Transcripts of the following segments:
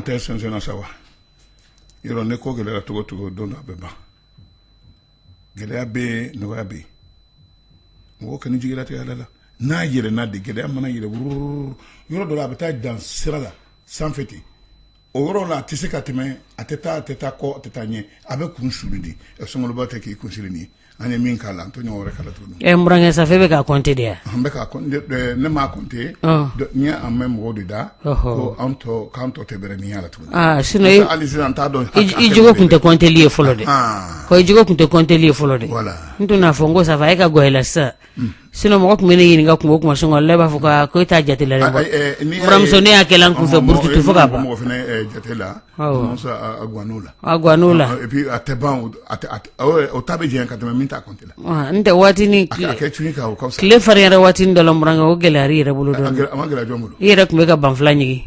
an tɛ sensenna sa wa yɔrɔ ne ko gɛlɛyara cogo o cogo don dɔ a bɛ ban gɛlɛya bɛ nɔgɔya bɛ yen mɔgɔ kana jigi latigɛ Ala la n'a yɛlɛnna de gɛlɛya mana yɛlɛn yɔrɔ dɔ la a bɛ taa dan sira la sanfɛ ten o yɔrɔ la a tɛ se ka tɛmɛ a tɛ taa a tɛ taa kɔ a tɛ taa ɲɛ a bɛ kunsuli di sunkalo ba tɛ k'i kunsuli nin an ye min k'a la an t'o ɲɔgɔn wɛrɛ k'a la tuguni ɛɛ sa bɛ ka kɔnte de yan an bɛ ne ma kɔnte ni an bɛ mɔgɔw de da ko an tɔ k'an tɔ tɛ bɛrɛ y'a la tuguni sinɔn hali sisan an t'a dɔn i jigi tun tɛ kɔnteli ye fɔlɔ de ko i jigi tun tɛ kɔnteli ye fɔlɔ de n tun n'a fɔ n ko sanfɛ e ka gɛlɛn sa sinɔn mɔgɔ tun bɛ ne ɲininka ko kuma sɔn ale b'a fɔ ko e t'a jate la mamuso ne y'a kɛlɛ kun fɛ burutu fo ka ban mɔgɔ jate la o ta bɛ ka tɛmɛ min ta n tɛ waati ni tile fari yɛrɛ waati don o gɛlɛya yɛrɛ bolo i yɛrɛ tun bɛ ka banfula ɲini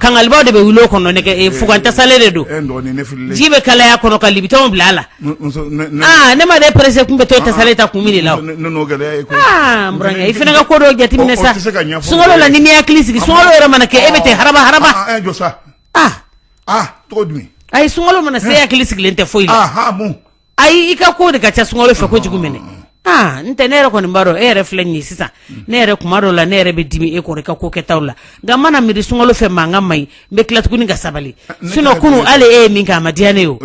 kankaliba de bɛ wuli o kɔnɔ nɛgɛ fugan tasale de don ji bɛ kalaya a kɔnɔ ka libitɔn bila a la ne ma de perese tun bɛ to tasale ta k'o min a la i fana ka ko dɔ jateminɛ sa sunkalo la n'i m'i hakili sigi sunkalo yɛrɛ mana kɛ e bɛ tɛ haba a ye sunkalo mana se a hakili sigilen tɛ foyi ayi i ka ko de ka ca sunkalo fɛ kojugu minɛ aa n tɛ ne yɛrɛ kɔni b'a dɔn e yɛrɛ filɛ nin ye sisan ne yɛrɛ kuma dɔw la ne yɛrɛ bɛ dimi e kɔrɔ i ka ko kɛtaw la nka n mana miiri sunkalo fɛ mankan man ɲi n bɛ tila tuguni ka sabali sinɔn kunun hali e ye min kɛ a ma diya ne ye o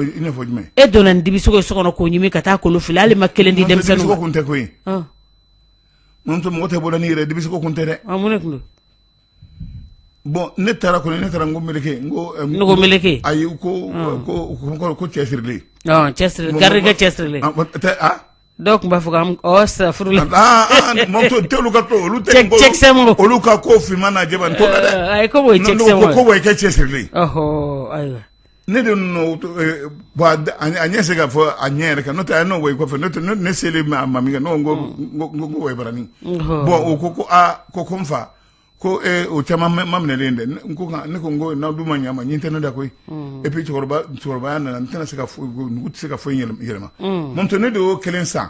e donna nin dibisogo ye so kɔnɔ k'o ɲimi ka taa kolo fili hali i ma kelen di denmisɛnninw ma mɔgɔ tɛ bɔ la ni yɛrɛ dibisogo kun tɛ dɛ mun de kun bɔn ne taara kɔni ne taara n ko mɛlɛkɛ n ko mɛlɛkɛ ayi ko ko cɛ sirilen garikɛ cɛ siri dɔnki b'a fɔ sirauru la tolu ka olu olu ka ko fma na a ko cɛ sirilen ayiwa Ne de a ɲɛ se ka fɔ a ɲɛ yɛrɛ kan n'o tɛ n'o kɔfɛ n'o ne ne selen bɛ a ma min kɛ n ko a ye baara nin bɔn o ko ko aa ko ko n fa ko o caman ma minɛlen dɛ ne ko ko n'aw dun ma ɲama ye n tɛ ne da koyi epi cɛkɔrɔbaya nana n tɛna se ka tɛ se ka foyi yɛlɛma n ne de y'o kelen san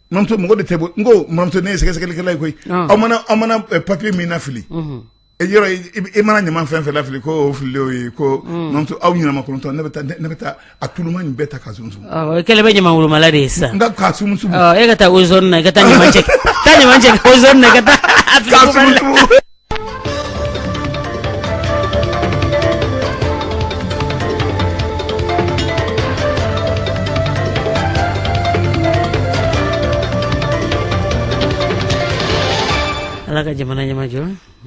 Mamuso mɔgɔ de tɛ bɔ n ko mamuso ne ye sɛgɛsɛgɛlikɛla ye koyi aw mana papiye min lafili yɔrɔ e mana ɲama fɛn fɛn lafili k'o fili o ye ko aw ɲɛnamatɔn ne bɛ taa a tuluma bɛɛ ta ka sumu i kɛlen bɛ ɲama wolomala de ye sisan ka e ka taa o zɔni na ka taa ɲama cɛ ka taa ala ka jamana ɲamajɔ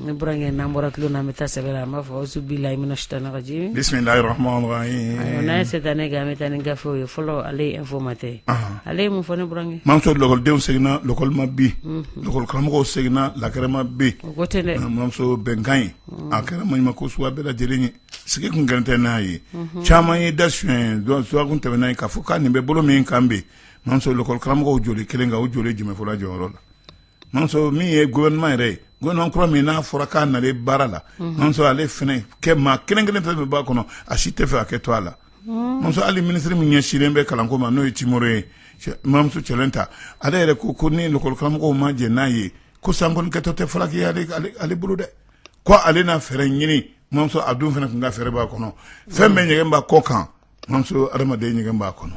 n burankɛ n'an bɔra tulon na an bɛ taa sɛbɛ la an b'a fɔ awuzu bilayi mina sitani rajim bisimilayi rahman rahim n'an ye setanɛ gɛn an bɛ taa ni gafew ye fɔlɔ ale ye informateur ale ye mun fɔ n burankɛ mamuso lakɔlidenw seginna lakɔli ma bi Karamɔgɔw seginna lakɛrɛ ma bi mamuso bɛnkan ye a kɛra ma ko sugu bɛɛ lajɛlen ye sigi kun gɛrɛntɛ n'a ye caman ye da su dɔn su kun tɛmɛnna yen k'a fɔ ko nin bɛ bolo min kan bi karamɔgɔw joli kelen kan o joli jumɛn fɔra jɔyɔrɔ la min ye gofɛrɛnaman yɛrɛ ye gofɛrɛnaman kura min n'a fɔra k'a nalen baara la ale kɛ maa kelen kelen fɛn fɛn b'a kɔnɔ a si t'a fɛ a kɛ to a la muso hali minisiri min ɲɛsinnen bɛ kalanko ma n'o ye Temore ye mamuso Culɛnta ale yɛrɛ ko ko ni lakɔli karamɔgɔw ma jɛn n'a ye ko san kɔni kɛtɔ tɛ falaki ye ale bolo dɛ ko ale n'a fɛɛrɛ ɲini mamuso a dun fana tun ka fɛɛrɛ b'a kɔnɔ fɛn bɛɛ ɲɛgɛn b'a kɔ kan mamuso adamaden ɲɛgɛn b'a kɔnɔ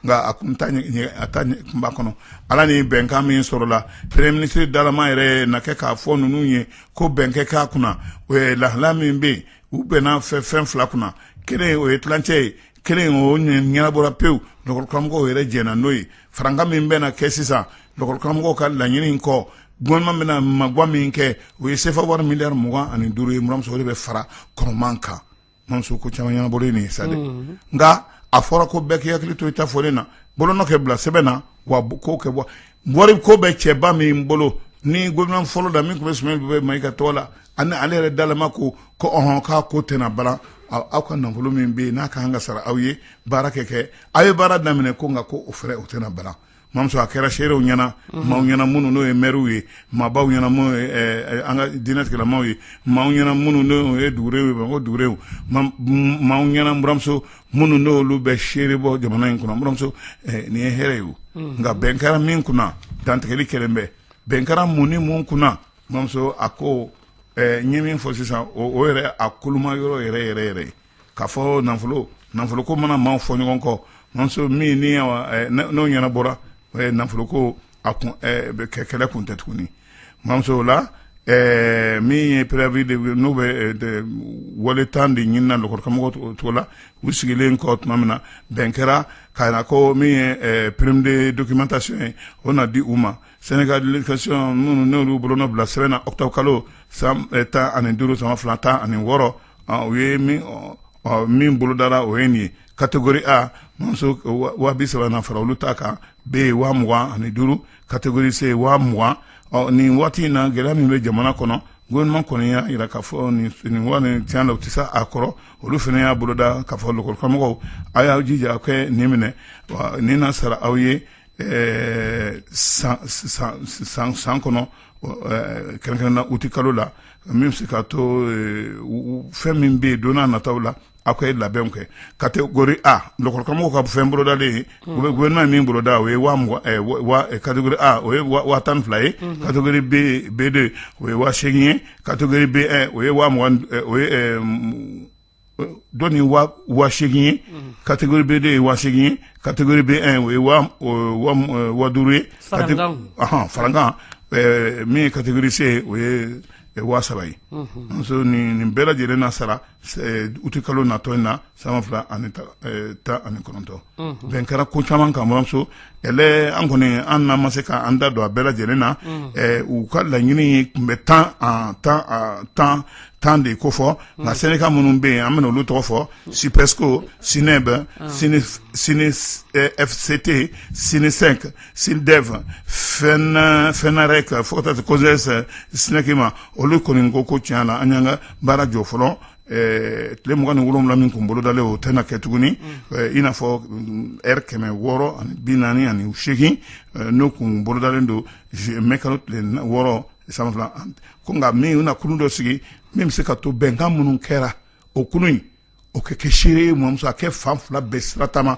nka a tun b'a kɔnɔ ala ni bɛnkan min sɔrɔla premiye minisiri dalama yɛrɛ na kɛ k'a fɔ ninnu ye ko bɛn kɛ k'a kunna o ye lahala min bɛ yen u bɛnna fɛ fɛn fila kunna kelen o ye tilancɛ ye kelen o ɲɛnabɔra pewu lakɔli karamɔgɔw yɛrɛ jɛnna n'o ye farankan min bɛ kɛ sisan lakɔli karamɔgɔw ka laɲini in kɔ gofɛrɛnaman bɛna magan min kɛ o ye sefa wari miliyari mugan ani duuru ye mamuso o de bɛ fara kɔrɔman kan mamuso ko caman ɲɛnabɔlen sa nka a fɔra ko bɛɛ k'i hakili to i ta fɔlen na bolonɔ kɛ bila sɛbɛn na wa ko kɛ bɔ wariko bɛ cɛba min bolo ni gofɛrɛnaman fɔlɔ la min tun bɛ Sumeyilu Bubɛyi Mayiga tɔgɔ la ani ale yɛrɛ dalama ko ko ɔhɔn k'a ko tɛna balan aw ka nafolo min bɛ yen n'a ka kan ka sara aw ye baara kɛ kɛ aw ye baara daminɛ ko nka ko o fɛrɛ o tɛna balan mamuso a kɛra seerew ɲɛna maaw ɲɛna minnu n'o ye mɛriw ye maabaw ɲɛna minnu ye ɛɛ, ɛɛ, an ka diinɛtigilamaw ye maaw ɲɛna minnu n'o ye dugurenw ye bamakɔ dugurenw ma- m- maaw ɲɛna n buramuso minnu n'olu bɛ seere bɔ jamana in kɔnɔ n buramuso ɛɛ, nin ye hɛrɛ ye o nka bɛn kɛra min kunna dantigɛli kɛlen bɛ bɛn kɛra mun ni mun kunna Mamuso a ko n ye min fɔ sisan o yɛrɛ a koloma yɔrɔ yɛrɛ yɛrɛ yɛrɛ k'a fɔ nafolo nafolo ko mana maaw fɔ ɲɔgɔn kɔ mamuso min ni n'o ɲɛnabɔra nafolo ko a kɛ kɛlɛ kun tɛ tuguni mamuso o la min ye préavis de n'u bɛ wale tan de ɲinina lakɔli karamɔgɔw cogo la u sigilen kɔ tuma min na bɛn kɛra ka ko min ye prime de documentation ye o na di u ma sɛndika edikasiyɔn minnu n'olu bolonɔ bila sɛbɛn na ɔkutɔburu kalo san tan ani duuru san ba fila tan ani wɔɔrɔ u ye min bolodara o ye nin ye kategori a waa bi saba fara olu ta kan be en waa mugan ani duuru kategori se waa mugan ɔ nin waati in na gɛlɛya min bɛ jamana kɔnɔ gofɛrɛnaman kɔni y'a jira ka fɔ nin tiɲɛ la u tɛ se a kɔrɔ olu fana y'a boloda ka fɔ lakɔlikaramɔgɔw a y'aw jija ka nin minɛ wa nin na sara aw ye ɛɛ san san kɔnɔ kɛrɛnkɛrɛn na uti kalo la min bɛ se ka to fɛn min bɛ yen don nataw la aw ka ye labɛn kɛ kategori a lakɔlikaramɔgɔw ka fɛn bolodalen gofɛrɛnaman min boloda o ye kategori a o ye waa tan ni fila ye kategori be de o ye waa seegin ye kategori be en o ye dɔn nin waa seegin ye kategori be de ye waa seegin ye kategori be en o ye waa duuru ye farankan min ye kategori se o ye waa saba ye muso nin bɛɛ lajɛlen na sara uti kalo natɔ in na san ba fila ani tan ani kɔnɔntɔn bɛn kɛra ko caman kan buramuso kɛlɛ an kɔni an n'an ma se k' an da don a bɛɛ lajɛlen na u ka laɲini tun bɛ tan tan tan tan de ko fɔ nka sɛndika minnu bɛ yen an bɛna olu tɔgɔ fɔ SYPESCO SYNEB SYNEFCT SYNESEC SYLDEF FENAREC fo ka taa se COSES SNEC ma olu kɔni ko ko tiɲɛ la an y'an ka baara jɔ fɔlɔ tile mugan ni wolowula min tun bolodalen o tɛna kɛ tuguni i n'a fɔ lɛri kɛmɛ wɔɔrɔ ani bi naani ani seegin n'o tun bolodalen don mɛ kalo tile wɔɔrɔ san fila ko nka min u na kulu dɔ sigi min bɛ se ka to bɛnkan minnu kɛra o kulu in o ka kɛ seere ye mamuso a kɛ fan fila bɛɛ siratama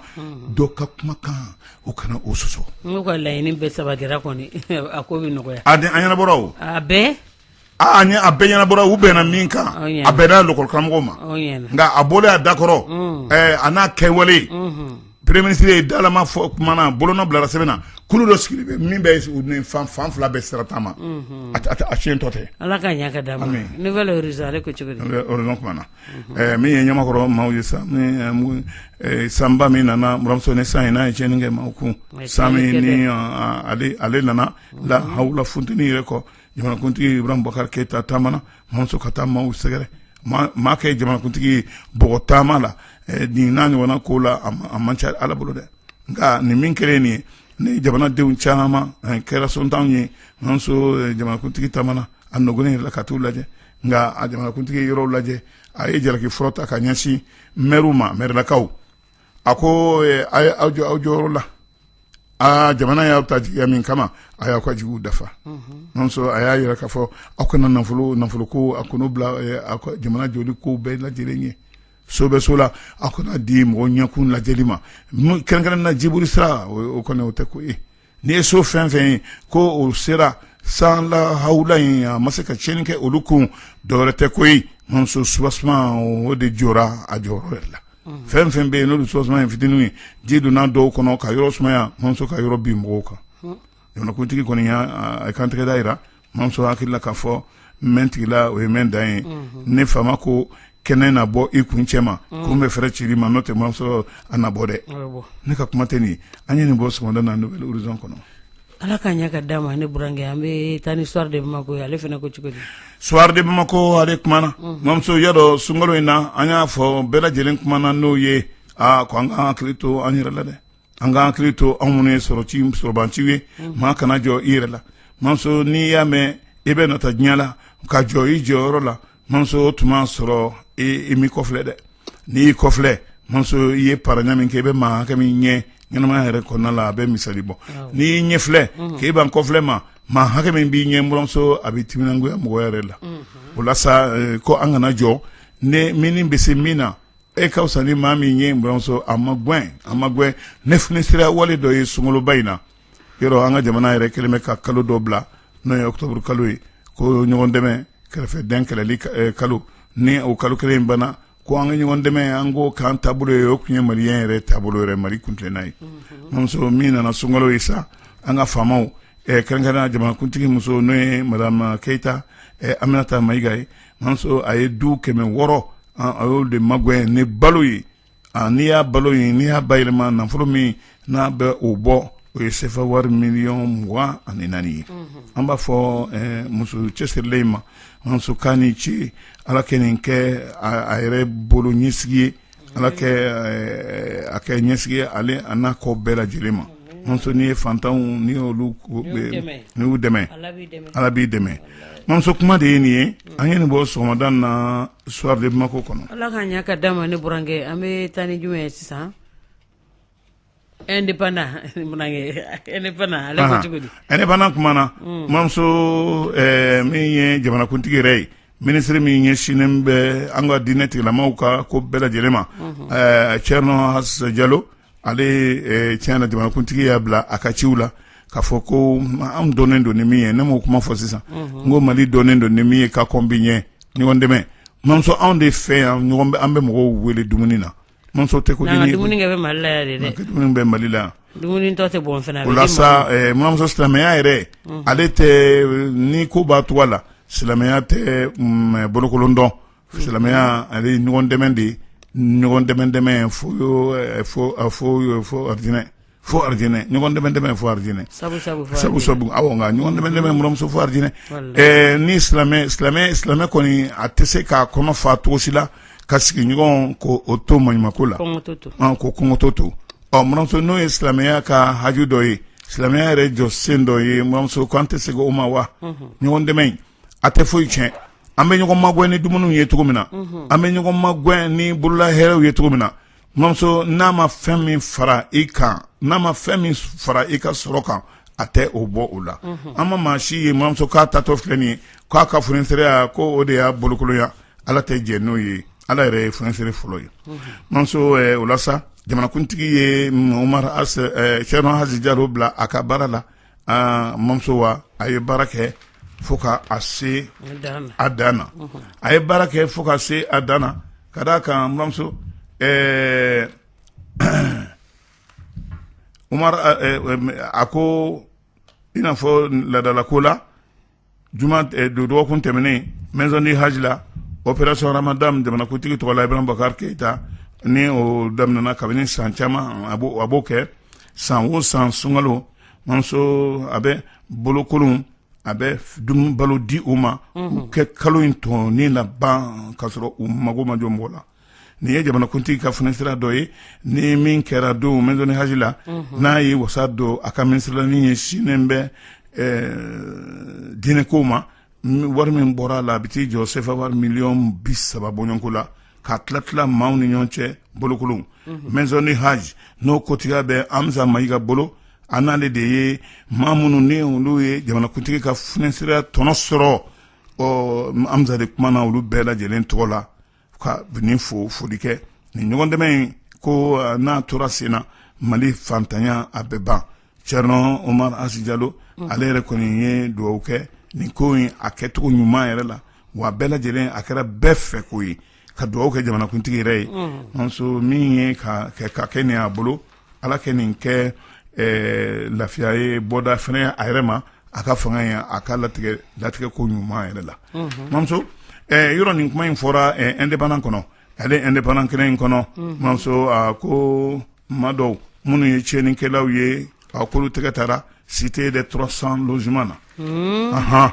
dɔ ka kumakan o kana o sɔsɔ n'u ka laɲini bɛɛ sabatira kɔni a ko bɛ nɔgɔya a di an yɛrɛbɔ o a bɛɛ A ni a bɛɛ ɲɛnabɔra u bɛnna min kan a bɛnna lakɔlikaramɔgɔw ma nka a bɔlen a da kɔrɔ a n'a kɛwale premiye minisiri ye dalama fɔ tuma min na bolonɔ bilara sɛbɛn na kulu dɔ sigi bɛ min bɛ fan fan fila bɛ sira tan ma a sin tɔ tɛ ala ka na min ye ɲamakɔrɔ maaw ye sa sanba min nana buramuso nin san in n'a ye tiɲɛni kɛ maaw kun san ale nana la hawula funteni yɛrɛ kɔ jamanakuntigi iburahima bubakari keyita taamana mamuso ka taa maaw sɛgɛrɛ maa kɛ jamanakuntigi bɔgɔ taama la nin n'a ɲɔgɔn ko la a man ca ala bolo dɛ nka nin min kɛra nin ye ni jamanadenw caman kɛra sotanw ye jamanakuntigi taamana a nɔgɔ in la ka taa u lajɛ nka a jamanakuntigi yɔrɔ lajɛ a ye jalaki fɔlɔ ta ka ɲɛsin mɛriw ma mɛrilakaw a ko a ye aw jɔ aw jɔyɔrɔ la aa jamana y'aw ta jigiya min kama a y'aw ka jigiw dafa mamuso a y'a yira k'a fɔ aw kana nafolo nafolo ko a kanu bila aw ka jamana jɔli ko bɛɛ lajɛlen ɲɛ so bɛ so la aw kana di mɔgɔ ɲɛkun lajɛli ma kɛrɛnkɛrɛn na jibolisira o kɔni o tɛ ko ye N'i ye so fɛn fɛn ye ko o sera san la hawula in a ma se ka tiɲɛni kɛ olu kun dɔwɛrɛ tɛ ko ye mamuso soubassement o de jɔra a jɔyɔrɔ yɛrɛ la fɛn fɛn bɛ yen n'olu soubassement ye fitinin ye ji donna dɔw kɔnɔ ka yɔrɔ sumaya mamuso ka yɔrɔ bin mɔgɔw kan jamanakuntigi kɔni y'a kantigɛda jira mamuso hakili la k'a fɔ mɛ tigila o ye mɛ dan ye ne faama ko kɛnɛ na bɔ i kun cɛ ma ko n bɛ fɛɛrɛ cili ma n'o tɛ mamuso a na bɔ dɛ ne ka kuma tɛ nin ye an ye nin bɔ sɔgɔmada na Nouvel Horizon kɔnɔ ala ka ɲa ka d'a ma ne burankɛ an bɛ taa ni Soir de Bamako ye ale fana ko cogo di Soir de Bamako ale kumana mamuso ya dɔ sunkalo in na an y'a fɔ bɛɛ lajɛlen kuma na n'o ye aa ko an ka hakili to an yɛrɛ la dɛ an ka hakili to anw minnu ye sɔrɔ ci sɔrɔban ciw ye maa kana jɔn i yɛrɛ la mamuso n'i y'a mɛn i bɛ nata diɲɛ la ka jɔ i jɔyɔrɔ la mamuso tuma sɔrɔ i m'i kɔfilɛ dɛ n'i y'i kɔfilɛ mamuso i ye paraɲa min kɛ i bɛ maa hakɛ min ɲɛ ɲɛnamaya yɛrɛ kɔnɔna la a bɛ misali bɔ n'i y'i ɲɛfilɛ k'i ban kɔfilɛ ma maa hakɛ min b'i ɲɛ buramuso a bɛ timinangoya mɔgɔ yɛrɛ la o la sa eh, ko an kana jɔn e min bɛ se min na E ka fisa ni maa min ye buramuso a magɛn a magɛn ne f sira wale dɔ ye sunkaloba in na yɔrɔ an ka jamana yɛrɛ kɛlen bɛ ka kalo dɔ bila n'o ye ɔkutɔburu kalo ye ko ɲɔgɔn dɛmɛ kɛrɛfɛ dan kɛlɛli kalo ni o kalo kelen in banna ko an ka ɲɔgɔn dɛmɛ an ko k'an taabolo ye o tun ye mali yɛrɛ taabolo yɛrɛ mali kuntilenna ye mamuso min nana sunkalo ye sa an ka faamaw kɛrɛnkɛrɛn jamanakuntigi muso n'o ye madame Keyita Aminata Mayiga ye mamuso a ye du kɛmɛ wɔɔrɔ a y'o de magɛn ni balo ye n'i y'a balo ye n'i y'a bayɛlɛma nafolo min na a bɛ o bɔ o ye sefa wari miliyɔn mugan ani naani ye an b'a fɔ muso cɛsirilen in ma mamuso k'a ni ce ala kɛ nin kɛ a yɛrɛ bolo ɲɛsigi ye Ala kɛ a kɛ ɲɛsigi ye ale a n'a kɔ bɛɛ lajɛlen ma mamuso n'i ye fantanw n'i y'olu ninw dɛmɛ ala b'i dɛmɛ mamuso kuma de ye nin ye an ye nin bɔ sɔgɔmada na Soir de Bamako kɔnɔ ala ka ɲa ka d'a ma ne burankɛ an bɛ taa ni jumɛn ye sisan indépendant muna kɛ indépendant ale ko cogo di indépendant kumana mamuso min ye jamanakuntigi yɛrɛ ye minisiri min ɲɛsinnen bɛ an ka diinɛ tigilamaw ka ko bɛɛ lajɛlen ma Thierno Hass Diallo ale tiɲɛ na jamanakuntigi y'a bila a ka ciw la k'a fɔ ko anw dɔnnen don ni min ye ne m'o kuma fɔ sisan n ko Mali dɔnnen don ni min ye ka kɔn bi ɲɛ ɲɔgɔn dɛmɛ mamuso anw de fɛ yan an bɛ mɔgɔw wele dumuni na Mamuso tɛ ko dumuni bɛ mali la yan o la sa mamuso silamɛya yɛrɛ ale tɛ ni ko ba tɔgɔ la silamɛya tɛ bolokolon dɔn silamɛya ale ye ɲɔgɔn dɛmɛ de ye ɲɔgɔn dɛmɛ dɛmɛ fo fo fo fo aridinɛ fo aridinɛ ɲɔgɔn dɛmɛ dɛmɛ fo aridinɛ sabu sabu fo sabu aridinɛ. sabu awɔ nka ɲɔgɔn dɛmɛ dɛmɛ buramuso fo aridinɛ Walayi. ɛɛ ni silamɛ silamɛ silamɛ kɔni a tɛ se k'a kɔnɔ fa cogo si la k'a sigiɲɔgɔn ko o to maɲumako la kɔngɔtɔ to an ko kɔngɔtɔ to ɔ buramuso n'o ye silamɛya ka haju dɔ ye silamɛya yɛrɛ jɔsen dɔ ye buramuso ko an tɛ segin o ma wa ɲɔgɔn dɛmɛ in a tɛ foyi tiɲɛ an bɛ ɲɔgɔn magɛn ni dumuniw ye cogo min na an bɛ ɲɔgɔn magɛn ni bolola hɛrɛw ye cogo min na Mamuso n'a ma fɛn min fara i kan n'a ma fɛn min fara i ka sɔrɔ kan a tɛ o bɔ o la an ma maa si ye mamuso k'a taatɔ filɛ nin ye k'a ka funisɛrɛya ko o de y'a bolokolonya ala tɛ jɛn n'o ye ala yɛrɛ ye funisɛrɛ fɔlɔ ye mamuso o la sa jamanakuntigi ye cɛrno asi jalo bila a ka baara la aa mamuso wa a ye baara kɛ fo ka a se a dan na a ye baara kɛ fo ka se a dan na ka d'a kan mamuso omar a ko i n'a fɔ laadala ko la juma eh, do- dɔgɔkun tɛmɛnen maison du hajj la opération ramadan jamanakuntigi tɔgɔ la ibrahim boubacar keita ni o daminɛna kabini san caman a b'o a b'o kɛ san o san sunkalo mamuso a bɛ bolokolon a bɛ f- dumuni balo di u ma u kɛ kalo in tɔ nin laban k'a sɔrɔ u mago ma jɔ mɔgɔ la nin ye jamanakuntigi ka funisɛrɛya dɔ ye ni min kɛra don maison du hajj la n'a y'a wasa don a ka minisiri la min ɲɛsinnen bɛ diinɛko ma wari min bɔra a la a bɛ t'i jɔ sefa wari miliyɔn bi saba bɔɲɔgɔnko la ka tila tila maaw ni ɲɔgɔn cɛ bolokolon maison du hajj n'o kotigiya bɛ amza mayiga bolo an n'ale de ye maa minnu ni olu ye jamanakuntigi ka funisɛrɛya tɔnɔ sɔrɔ ɔ amza de kumana olu bɛɛ lajɛlen tɔgɔ la ka nin fo foli kɛ nin ɲɔgɔn dɛmɛ in ko eh, n'a tora sen na mali fantanya a bɛ ban cɛrno omar asi jalo mm. ale yɛrɛ kɔni ye dugawu kɛ nin ko in a kɛcogo ɲuman yɛrɛ la wa bɛɛ lajɛlen a kɛra bɛɛ fɛ ko ye ka dugawu kɛ jamanakuntigi yɛrɛ ye mm. nso min ye ka kɛ nin a bolo ala kɛ nin kɛ eh, lafiya ye bɔda fana a yɛrɛ ma a ka fanga ye a ka latigɛ latigɛ ko ɲuman yɛrɛ la mhm. mamuso eh, yɔrɔ nin kuma in fɔra eh, indépendant kɔnɔ ale indépendant kɛnɛ in kɔnɔ mhm. mamuso a ko maa dɔw minnu ye tiɲɛnikɛlaw ye a k'olu tɛgɛ taara cité des 300 logements na mhm. ahan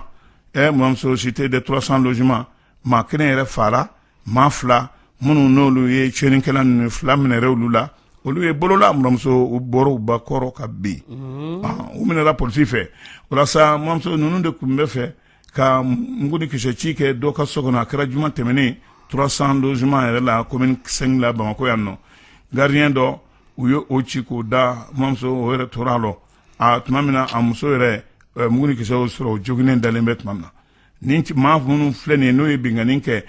eh, mamuso cité des 300 logements maa kelen yɛrɛ faara maa fila minnu n'olu ye tiɲɛninkɛla ninnu fila minɛra olu la olu ye bolola muramuso u bɔra ba kɔrɔ ka bin u minɛla polisi fɛ walasa muramuso ninnu de tun bɛ fɛ ka mugu ni kisɛ ci kɛ dɔ ka so kɔnɔ a kɛra juma tɛmɛnen trois cents logements yɛrɛ la commune cinq la bamakɔ yan nɔ garidiɲɛ dɔ u ye o ci k'o da muramuso o yɛrɛ tora lɔ a tuma min na a muso yɛrɛ mugu ni kisɛ o sɔrɔ o joginen dalen bɛ tuma min na ni maa minnu filɛ nin n'o ye binkanni kɛ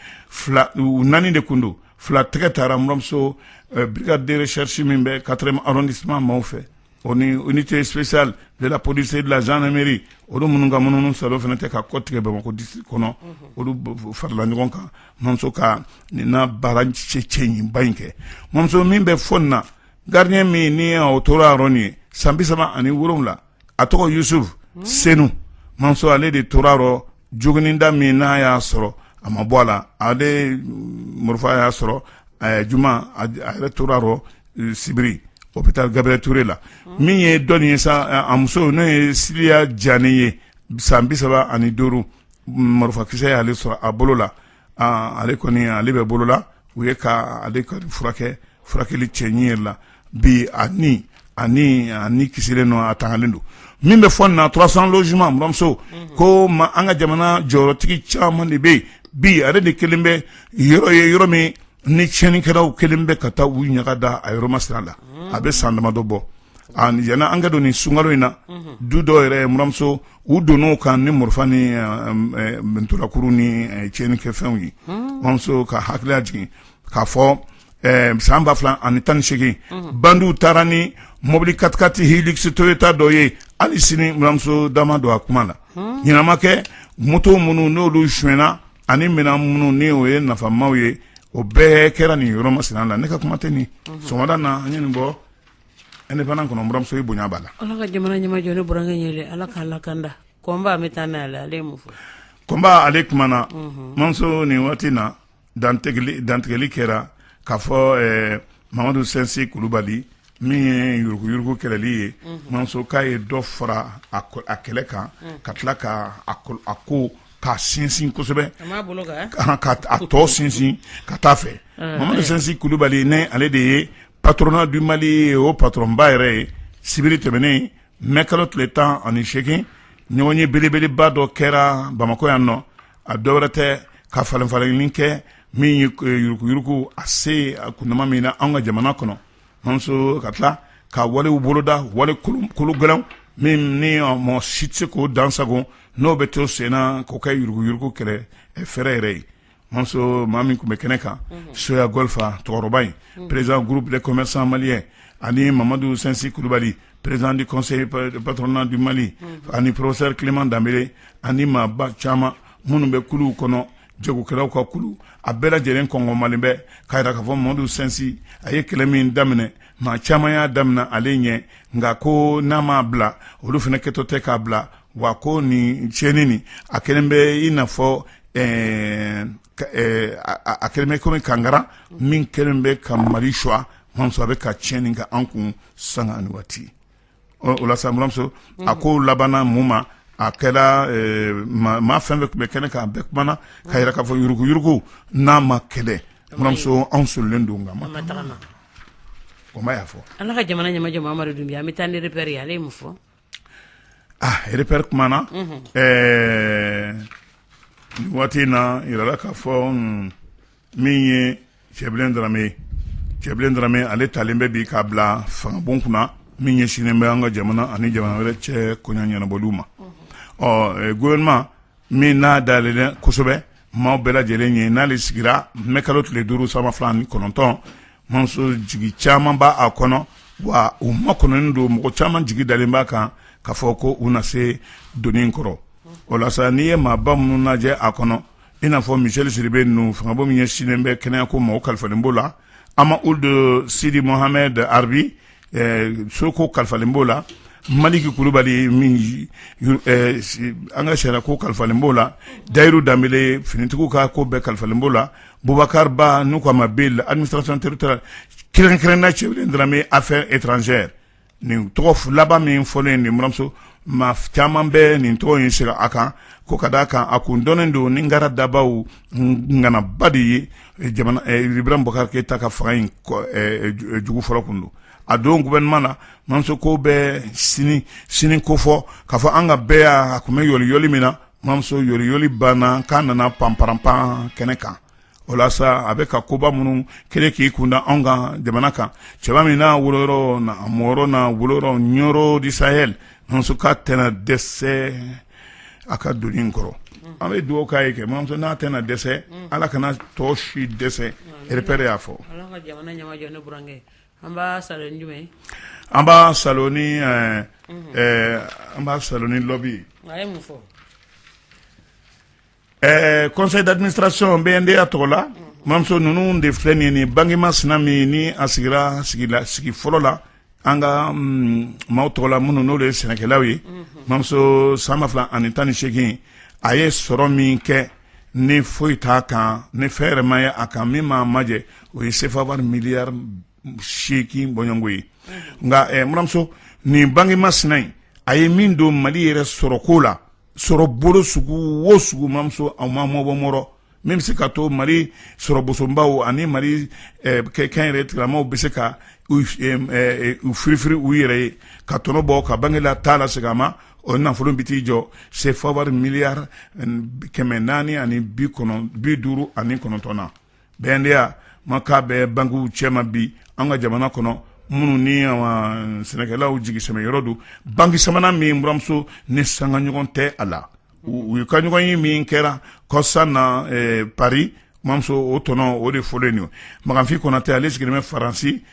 u naani de tun don fila tɛgɛ taara muramuso brigade de recherche min bɛ quatrième arrondissement maaw fɛ o ni unité spéciale de la police et de la gendarmerie olu minnu ka munumunusaalo fana tɛ ka kɔtigɛ bamakɔ district kɔnɔ olu farala ɲɔgɔn kan muramuso ka nin na baara cɛɲiba in kɛ muramuso min bɛ fɔ nin na garidiɲɛ min ni o tora ye san bi saba ani wolowula a tɔgɔ yusufu senu muramuso ale de tora a rɔ jogininda min n'a y'a sɔrɔ a ma bɔ a la ale morifa y'a sɔrɔ a juma a yɛrɛ tora a rɔ sibiri hôpital gabriel touré la min ye dɔɔni ye sa a muso n'o ye siliya jani ye san bi saba ani duuru marifa kisɛ y'ale sɔrɔ a bolo la ale kɔni ale bɛ bolola u ye ka ale ka furakɛ furakɛli cɛɲi yɛrɛ la bi a ni kisilen don a tangalen don min bɛ fɔ nin na trois cents logements muramuso ko ma an ka jamana jɔyɔrɔtigi caman de bɛ yen bi ale de kɛlen bɛ yɔrɔ ye yɔrɔ min ni tiɲɛninkɛlaw kɛlen bɛ ka taa u ɲaga da a yɔrɔ masira la a bɛ san damadɔ bɔ ɲinan an ka don nin sunkalo in na du dɔw yɛrɛ muramuso u donna kan ni marifa ni murukuru ni tiɲɛninkɛfɛnw ye anw ka hakili lajigin k'a fɔ san ba fila ani tan ni segin bandiw taara ni mɔbili katikati hilux toyota dɔ ye hali sini muramuso da ma don a kuma la ɲɛnama kɛ moto minnu n'olu sonyana ani minɛn minnu ni o ye nafamaw ye o bɛɛ kɛra nin yɔrɔ masina na ne ka kuma tɛ nin sɔgɔmada na an ye nin bɔ indépendant kɔnɔ muramuso i bonya b'a la ala ka jamana ɲɛmajɔ ne burankɛ yɛrɛ ala k'a lakanda combat an bɛ taa n'a la ale ye mun fɔ combat ale kumana muramuso nin waati na dantigɛli kɛra k'a fɔ mamadu sinsi kulubali min ye yuruguyurugu kɛlɛli ye muramuso k'a ye dɔ fara a kɛlɛ kan ka tila ka a ko ka sinsin kosɛbɛ a tɔ sinsin ka taa fɛ mamadu sinsi kulubali n'ale de ye Patronat du mali o patɔrɔnba yɛrɛ ye sibiri tɛmɛnen mɛ kalo tile tan ani segin ɲɔgɔnye belebeleba dɔ kɛra bamakɔ yan nɔ a dɔ wɛrɛ tɛ ka falenfalenni kɛ min ye yuruguyurugu a se a kundama min na an ka jamana kɔnɔ muramuso ka tila ka walew boloda wale kolo gɛlɛn min ni mɔgɔ si tɛ se k'o dansago n'o bɛ to senna k'o kɛ yuruguyurugu kɛlɛ fɛɛrɛ yɛrɛ ye Mamuso maa min tun bɛ kɛnɛ kan Soya Golfa cɛkɔrɔba in président groupe des commerçants maliens ani Mamadu Sinsi Kulubali président du conseil du patronat du Mali ani professeur Clément Danbele ani maaba caman minnu bɛ kulu kɔnɔ jagokɛlaw ka kulu a bɛɛ lajɛlen kɔngɔmalen bɛ k'a yira k'a fɔ Mamadu Sinsi a ye kɛlɛ min daminɛ maa caman y'a daminɛ ale ɲɛ nka ko n'a m'a bila olu fana kɛtɔ tɛ k'a bila wa ko nin tiɲɛni nin a kɛlen bɛ i n'a fɔ ɛɛ ɛɛ a kɛlen bɛ komi kankara min kɛlen bɛ ka Mali choix Mamuso a bɛ ka tiɲɛni kɛ an kun sanga ani waati o la sa buranmuso a ko labanna mun ma a kɛra maa fɛn fɛn tun bɛ kɛnɛ kan a bɛɛ kumana k'a yira k'a fɔ yuruguyugu n'a ma kɛlɛ buranmuso anw sɔrɔlen don ka ma o ma y'a fɔ ala ka jamana ɲɛmajɔ Amadu Dunbiya an bɛ taa ni repère ye ale ye mun fɔ repère kumana nin waati in na jirala k'a fɔ min ye Cɛbilen Darame ye Cɛbilen Darame ale talen bɛ bi k'a bila fangabon kunna min ɲɛsinnen bɛ an ka jamana ani jamana wɛrɛ cɛ ko ɲɛnabɔli ma gouvernement min n'a dayɛlɛlen kosɛbɛ maaw bɛɛ lajɛlen ye n'ale sigira mɛkalo tile duuru san ba fila ni kɔnɔntɔn mamuso jigi caman b' a kɔnɔ wa u makɔnɔnen don mɔgɔ caman jigi dalen b'a kan k'a fɔ ko u na se doni kɔrɔ o la sa n'i ye maaba minnu lajɛ a kɔnɔ i n'a fɔ Michel Sidibe ninnu fangabon min ɲɛsinnen bɛ kɛnɛya ko ma o kalifalen b'o la Hama Ould Sidi Mohamed Arbi so ko kalifalen b'o la Maliki Kulubali an ka sariya ko kalifalen b'o la Dayiru Danbele finitigiw ka ko bɛɛ kalifalen b'o la Bubakari Ba n'u ko a ma Bill administration territoriale kɛrɛnkɛrɛnna Cɛbilen Darame affaires étrangères nin tɔgɔ laban min fɔlen nin mamuso maa caman bɛ nin tɔgɔ in sera a kan ko ka d' a kan a kun dɔnnen don ni ngara dabaw nganaba de ye Ibrahim Bubakari Keyita ka fanga in jugu fɔlɔ tun don a don gouvernement na mamuso ko bɛ sini ko fɔ k'a fɔ an ka bɛɛ yan a tun bɛ yɔliyɔli min na mamuso yɔliyɔli banna k'a nana panparanpan kɛnɛ kan o la a bɛ ka koba minnu kɛlɛ k'i kunda anw ka jamana kan cɛba min n'a woloyɔrɔ mɔyɔrɔ n'a woloyɔrɔ Nioro du Sahel mamuso k'a tɛna dɛsɛ a ka doni in kɔrɔ an bɛ dugawu k'a ye kɛ mamuso n'a tɛna dɛsɛ ala kana tɔ si dɛsɛ repère y'a fɔ an b'a saalo ni an b'a saalo ni lɔ Ɛɛ conseil d'administration BNDA tɔgɔ la mamuso ninnu de filɛ nin ni banki masina min ni a sigira sigila sigi fɔlɔ la an ka maaw tɔgɔ la minnu n'o de ye sɛnɛkɛlaw ye mamuso san ba fila ani tan ni seegin a ye sɔrɔ min kɛ ni foyi t'a kan ni fɛn yɛrɛma ye a kan min ma majɛ o ye sefa wari miliyari seegin bɔɲɔgɔnko ye nka mamuso nin banki masina in a ye min don mali yɛrɛ sɔrɔ ko la sɔrɔbolo sugu o sugu mamuso a ma mɔbɔɔrɔ min bɛ se ka to mali sɔrɔ bosonbaw ani mali kɛ kɛnyɛrɛ tigilamaw bɛ se ka u firifiri u yɛrɛ ye ka tɔnɔ bɔ ka banki la ta lasegin a ma o nafolo bɛ t'i jɔ sefa wari miliyari kɛmɛ naani ani bi bi duuru ani kɔnɔntɔn na BNDA ma k'a bɛ bankiw cɛma bi an ka jamana kɔnɔ minnu ni sɛnɛkɛlaw jigisɛmɛyɔrɔ don banki sabanan min mamuso ni sanga ɲɔgɔn tɛ a la u ye ka ɲɔgɔnye min kɛra kɔsa na pari mamuso o tɔnɔ o de fɔlen don makanfin konatɛ ale sigilen bɛ faransi